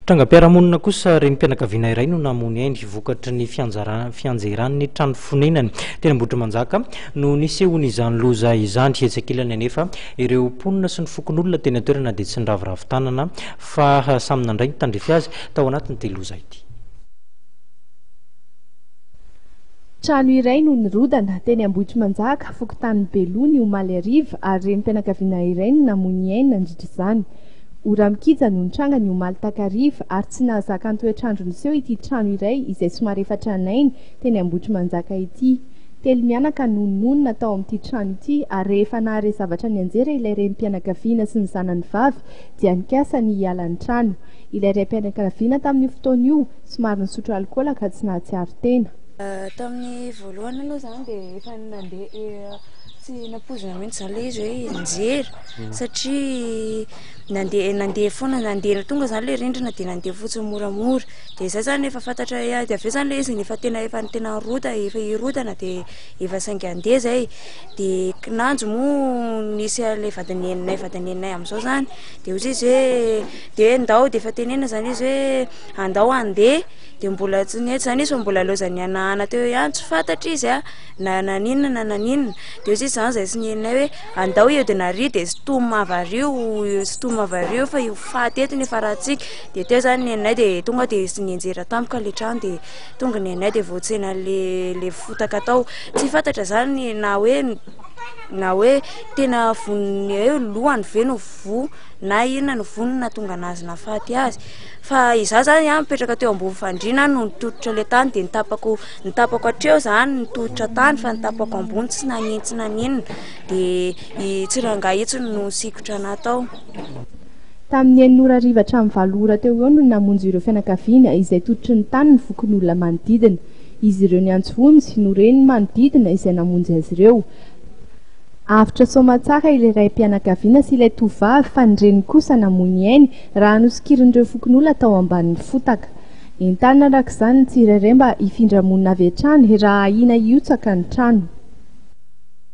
Trangam-piarahamonina kosa, renim-pianakaviana iray no namono ainy vokatry ny fianjeran'ny trano fonenany teny Ambohitrimanjaka no nisehoan'izany loza izany. Etsy ankilany anefa, ireo mponina sy ny fokonolona teny an-toerana dia tsy niraviravy tanana fa samy nandray ny tandrify azy tao anatin'ity loza ity. Trano iray no nirodana teny Ambohitrimanjaka, fokontany Beloha ny omaly hariva ary renim-pianakaviana iray no namoy ny ainy nandritra izany. Ora mikija no nitranga ny omaly takariva ary tsy nahazaka ny toetr'andro niseho ity trano iray izay somary efa tranainy teny Ambohitrimanjaka ity. Telo mianaka no nonina tao amin'ity trano ity ary rehefa nahare zavatra nianjera ilay renim-pianakaviana sy ny zanany vavy dia nikasa ny hiala ny trano. Ilay raim-pianakaviana tamin'io fotoana io somary nisotro alikaola ka tsy nahatsiaro tena. Tamin'ny voalohany aloha izany dia efa nandeha tsy nampoizina mihitsy izany ilay izy hoe nianjera. satria nandeha nandeha foana nandeha tonga izany ilay rindrina dia nandeha fotsiny moramora dia izay izany efa fantatra hoe dia avy eo izany ilay izy efa tena efa tena rota efa hirodana dia efa saika handeha izay dia kinanjo moa nisy an'ilay vadineninay vadineninay amin'izao izany dia hoy izy hoe dia hoe ndao dia efa tenenina izany izy hoe andao handeha dia mbola tsy nety izany izy fa mbola nilaozany nihanahana teo ihany tsy fantatry izy an na naninona na naninona dia hoy izy izany izay tsy nenay hoe andao eo dia nariho dia sintomina avy ary io sintomina avy ary io fa io faty eto nefa ratsika dia teo izany ny nenay dia tonga dia nisy nianjera tampoka ilay trano dia tonga ny nenay dia voatsena ilay ilay fotaka tao, tsy fantatra izany na hoe na hoe tena vonona hoe lohany ve no voa na inona no voa no nahatonga an'azy nahafaty azy fa izaho izany an mipetraka teo ambony fandriana no nitototra ilay tany dia ny tapako Ny tapako hatreo izany ny tolotra tany fa ny tapako ambony tsy nanitsy na n'inona dia i Tsirangahy itsy no nisikotra anahy tao. Tamin'ny enina ora hariva hatramin'ny valo ora teo ho eo no namonjy ireo fianakaviana izay tototry ny tany ny fokonolona manodidina. Izy ireo niantso vonjy, no ren'ny manodidina izay namonjy azy ireo. Avotra soamantsara ilay raim-pianakaviana sy ilay tovovavy fa ny reniny kosa namoy ny ainy raha nosokirin'ireo fokonolona tao ambanin'ny fotaka. Entanina araka izany ny tsirairay mba hifindra monina avy hatrany raha ahiana hihotsaka ny trano.